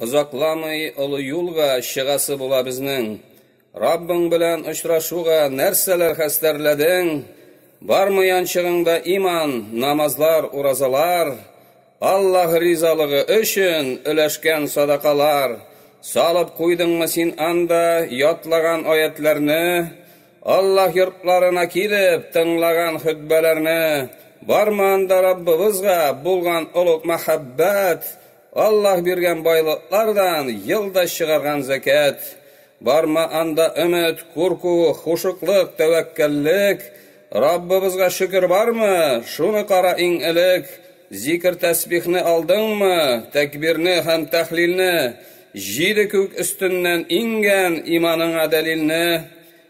Озакламый олы юлга чыгасы була безнең. Раббың белән очрашуга нәрсәләр хәстәрләдең? Бармы янчыгыңда иман, намазлар, уразалар, Аллаһ ризалыгы өчен өләшкән садакалар? Салып куйдыңмы син анда ятлаган аятләрне, Аллаһ йортларына килеп тыңлаган хөтбәләрне? Бармы анда Раббыбызга булган олуг мәхәббәт, Аллаһ биргән байлыклардан елда чыгарган зәкят, бармы анда өмет, курку, хушыклык, тәвәккәллек? Раббыбызга шөкер бармы? Шуны кара иң элек, зикер-тәсбихне алдыңмы, тәкбирне һәм тәхлилне, җиде күк өстеннән иңгән иманыңа дәлилне?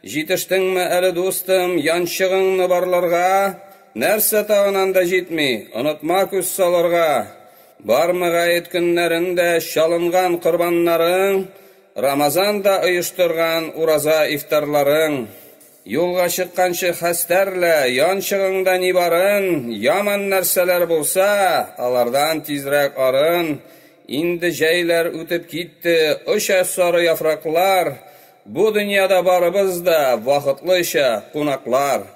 Җитештеңме әле, дустым, янчыгыңны барларга? Нәрсә тагын анда җитми? Онытма күз салырга! Бармы гает көннәрендә чалынган корбаннарың, Рамазанда оештырган ураза ифтарларың? Юлга чыкканчы хәстәрлә, янчыгыңда ни барын, Яман нәрсәләр булса, алардан тизрәк арын. Инде җәйләр үтеп китте, оча сары яфраклар, Бу дөньяда барыбыз да вакытлыча кунаклар.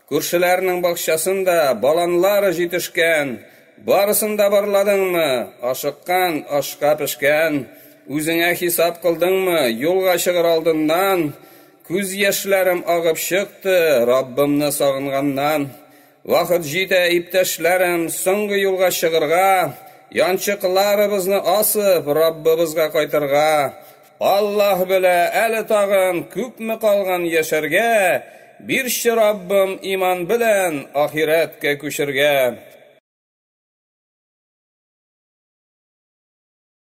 Күршеләрнең бакчасын да, баланлары җитешкән, барысын да барладыңмы? Ашыккан, ашка пешкән, үзеңә хисап кылдыңмы? Юлга чыгыр алдыннан, Күз яшьләрем агып чыкты, Раббымны сагынганнан. Вакыт җитә, иптәшләрем, Соңгы юлга чыгырга, Янчыкларыбызны асып, Раббыбызга кайтырга. Аллаһ белә әле тагын күпме калган яшәргә, бирче Раббым иман белән ахирәткә күчергә.